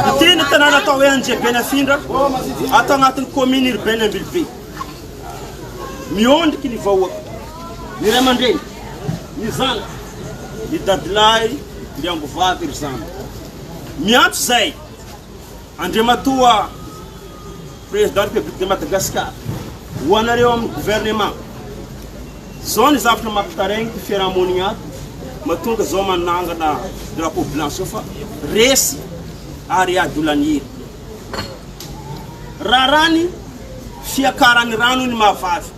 Ity ny tanàna atao hoe Anjebenafindra, ato agnatin'ny commune urbaine Ambilobe. Miondriky ny vahoaka, ny ray aman-dreny, ny zanaka, ny dadilahy, ny ambovavy ry zandry. Miantso izay. Andriamatoa Président République de Madagascar, ho anareo amin'ny Gouvernement, zao ny zavatra mampitaraigny ty fiarahamonigny ato, mahatonga zao manangana drapeau blanc zao fa resy ary ady olan'hira. Raharahany fiakarany rano ny mahavavy.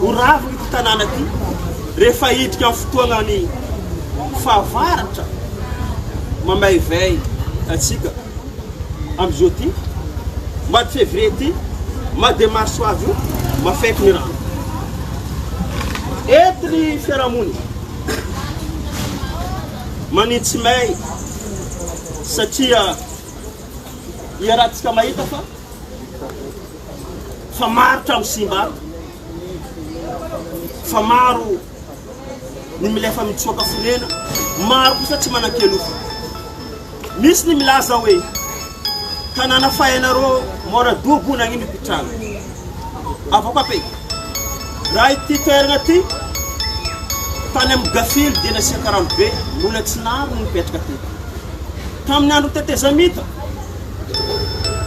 ho ravina ity tanàna ity rehefa hiditra amin'ny fotoanan'ny fahavaratra mamaivay antsika amin'izao ity mois de février ity mois de mars ho avy io mafaiky ny rano eto ny fiarahamonina manitsy may satria iarahantsika mahita fa fa maro trano simba ato, fa maro ny mila efa mitsoaka fonena, maro kosa tsy manan-keloka. Misy ny milaza hoe tanàna fahenareo mora dobo nagnino mpitranga. Avoko ape, raha ity toerana ity tany amin'ny gafily dia nasiaka ranobe mbola tsy narona ny nipetraka teto. Tamin'ny andron'ny tetezamita,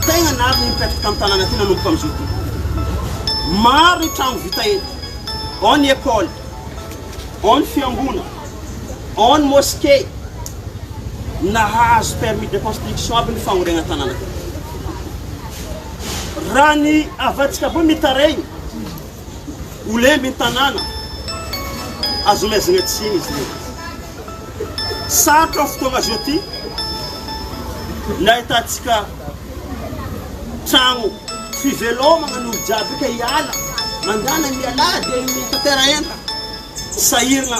Tegna navy ny mipetraka eto an-tanàna ty nanomboka amin'izao ty. Maro ny tragno vita eto, ao ny école, ao ny fiangonana, ao ny mosquée. Nahazo permis de construction aby ny fagnoregna tanàna teto. Raha ny havantsika avao mitaregny. ho lembin'ny tanàna, azon'ny haizina tsy hino izy ireny. Sarotra ao fotoana izao ity ny ahitantsika trano fivelomana ny olo-jiaby ka hiala mandàna ny ialahy dia ny tatera-entana sahirina.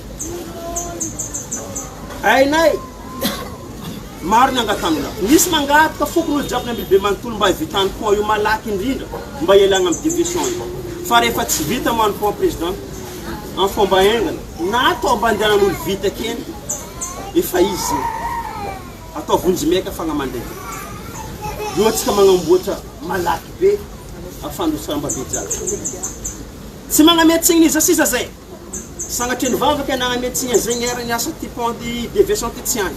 Hainay! Maro ny angatahana. Misy mangataka fokonolona jiaby ny Ambilobe manontolo mba hivitan'ny pont io malaky indrindra mba hialana amin'ny diversion io. Fa rehefa tsy vita moa ny pont Président, amin'ny fomba haingana, na atao ambandehanan'olo vita kely, efa izy io. Atao vonjy maika fagnamandaika. Io antsika magnamboatra malaky be, ahafahan'ny roa tsaramba be jiaby. Tsy magname tsigny iza sisa zay. Sanatria nivavaka i Anna Metzing izay niharan'ny asa ity Pont de Vincent ity tsy hany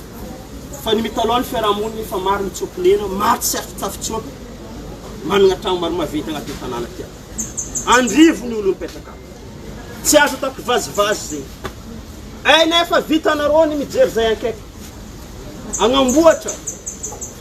fa ny mitalaho ny fiarahamonina efa maro ny tsy amponena, maro tsy afitsafitsoaka, manana trano maro maventy anaty ny tanàna ity ato. Andrivo ny olona mipetraka ato. Tsy azo atao kivazivazy izay. Aina efa vitanareo ny mijery izay ankaiky. Agnamboatra.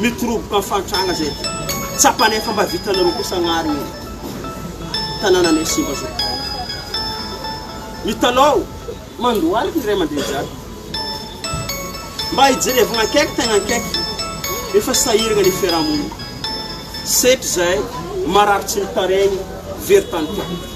Mitoroboka ny fahantrana zay tsapanay fa mba vitanareo kosa agnary io tanananay simba zao. Mitalao mandohalika ny ray aman-dreny jiaby. Mba hijerevagna akaiky tegna akaiky efa sahiragna ny fiarahamonina. Setra zay marary tsy mitaregny very tany tiako.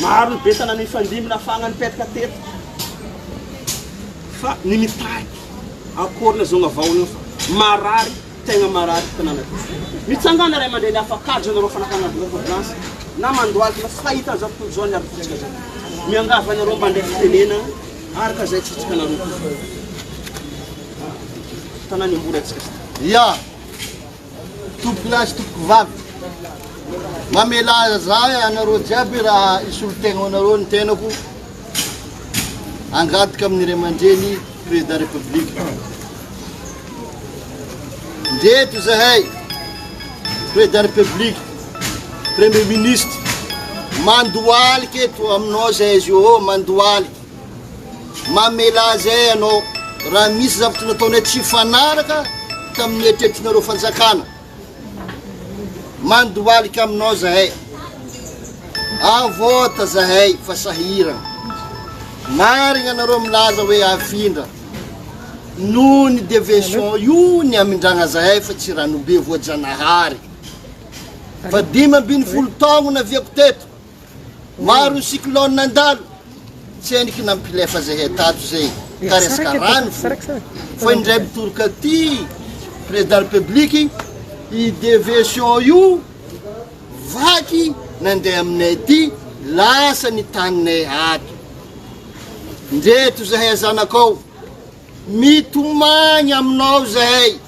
Maro ny vintana nifandimby nafahana nipetraka teto fa ny mitarika akory ilay zonga vahona eo fa marary tegna marary ity tanàna ity. Mitsangana ray aman-dreny afak'ady ianareo fanakana vola ordonnance na mandohalika fa fahita an'izao tontolo izao ny aretintsika izao. Miangavy anareo mba andeha fitenena araka izay tsitsikanareo. Tanàna imboly antsika. Ya. Tompoko lahy sy tompoko vavy, mamelà za anareo jiaby raha hisolo tegna ho anareo ny tenako hangataka amin'ny ray aman-dreny Président République. Ndreto izahay Président République, Premier Ministre, mandohalika eto aminao zay zio ô, mandohalika. Mamelà izay ianao raha misy zavatra nataonay tsy hifanaraka tamin'ny eritreritrinareo fanjakana. Mandohalika aminao izahay. Avote izahay fa sahirana. Marigna nareo milaza hoe afindra. Noho ny deviation io ny amindragna zahay fa tsy ranobe voajanahary. Fa dimy ambin'ny folo taogno naviako teto. Maro ny cyclone nandalo, tsy hainy kina mipilefa zay hay tato zay ka resaka rano fo. Fa indray mitoroka aty président république i deviation io vaky nandeha aminay aty lasa ny taninay ato. Ndreto zahay zanakao mitomagny aminao zahay.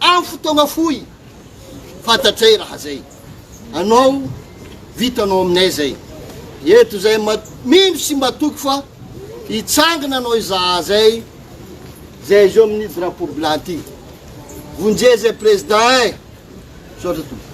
Amin'ny fotoagna fohy, fantatray raha zay anao, vitanao aminay zay, eto zay ma mino sy matoky fa hitsangana anao izaha zay, zay izy eo amin'io drapeau blanc ty, vonjeo zay Président eh! Misaotra tompoko.